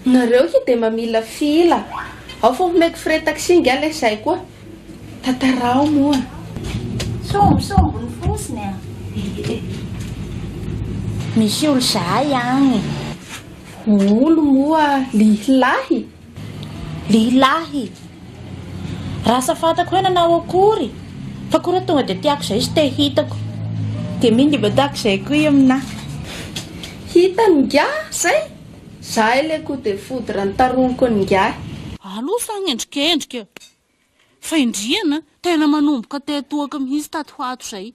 Nareo ki de mamila fila ao fa homeko frais taxi nga leh zay koa tatarao moa. Sombisomby ny fosiny a! Misy olo zahay agny. Olo moa lihilahy? Lehilahy! Raha sa fantako hoe nanao akory fa koa raha tonga dia tiako izay sy te hitako. Dia mino dia mba tiako izay koa i aminah. Hitany ingahy izay? Zay le coup de foudre nitaroniko an'ingahy. Alou fa agnendrikendrika. Fahendrena a! Tena manomboka tety toaka mihitsy taty ho ato izay.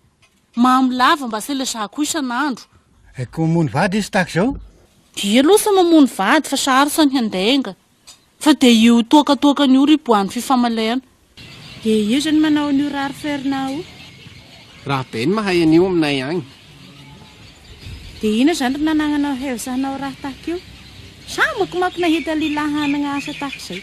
Mamy lava mba se le za koa isan'andro. Hay ko mamono vady izy tahaka izao. Dia aloha sa mamono vady fa sarotra ny handainga. Fa dia io toaka toakany io ry boan'ny fifamaliana. Dia io izany manao an'io rare Fernand io. Raha be ny mahay an'io aminay agny. Dia inona izany ry nanananao hev za hanao raha tahaka io? Za manko manko nahita lilahy hanagna asa tahaka izay.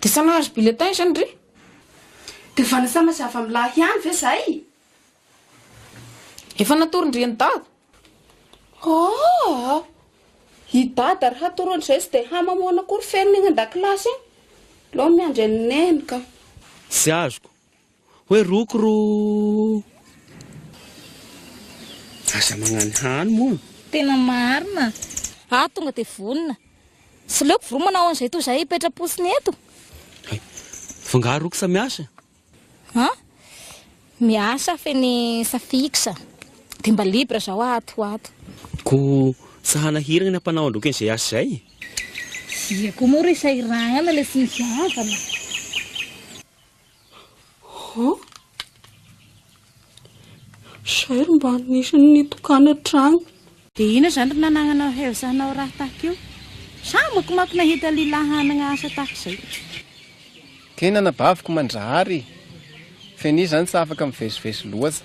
De sa nahazo bulletin izany re? De vanasana sy avamilahy ihany ve zay? Efa natoron-dry an'i dada. Aa! I dada ary hatoro an'izay tsy dia hahy mamoana akory feno ny any an-dakilasy any. Aleo miandry an'i neny ka. Tsy azoko. Hoe roko ro aza magnany hany moa. Tena marina. Aho tonga dia vonona. Tsy leoko voromana ao an'izay toa izay hipetra-potsiny eto. Hay. F'angaha roksa miasa? Ha? Miasa f'eny Safixa. Dia mba libre izao aho ato ho ato. Koa tsy hanahiragna ny ampanao an-droky an'izay asa izay e. Dia koa moa ry sahiragna ilay tsy misy havana. Oh! Izay ry mba nisy ny nitokana hatrany. Dia inona izany ry nanananao hev hanao raha tahaka io? Sa amako manko nahita lilahy hanagna asa tahaka izay. Tena anabaviko Mandrahary e! Feni izany tsy afaka mivezivezy loatsa.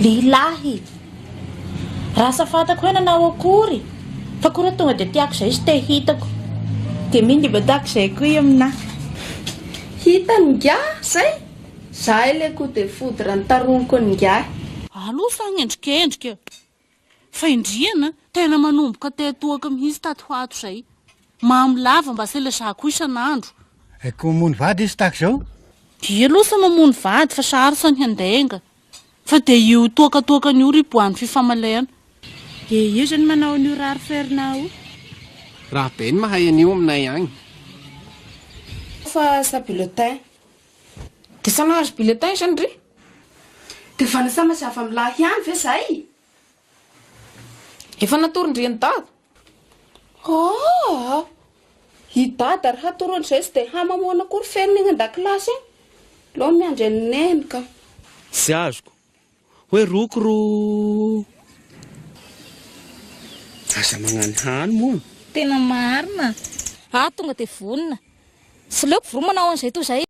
Lehilahy! Raha sa fantako hoe nanao akory fa koa raha tonga dia tiako izay sy te hitako. Dia mino dia mba tiako izay koa i aminah. Hitany ingahy izay? Izahay ilay coup de foudre nitaroniko an'ingahy. Aloha fa agnendrikendrika. Fahendrena, tena manomboka teo toaka mihitsy tato ho ato izay. Mamo lava mba sela za koa isan'andro. Eh, koa mony vady izy tahaka izao? Dia aloha sa mamono vady fa sarotra ny handainga. Fa dia io toaka toakany io ry boahan'ny fifamaliana. Dia io izany manao an'io rare faire na o. Raha be ny mahay an'io aminay agny. Fa sa bulletin. De sa nahazo bulletin izany re? De vanasana sy avamilahy ihany ve zay? Efa natoron-dry an'i dada. Aa! I dada ary hatoro an'izay tsy dia hahy mamoana akory feriny egny an-dakilasy egny. Aleo ny miandry an'i neny ka. Tsy azoko. Hoe roko ro. Aza magnano hany moa. Tena marina. Aho tonga dia vonona. Tsy leoko vro manao an'izay toa izay.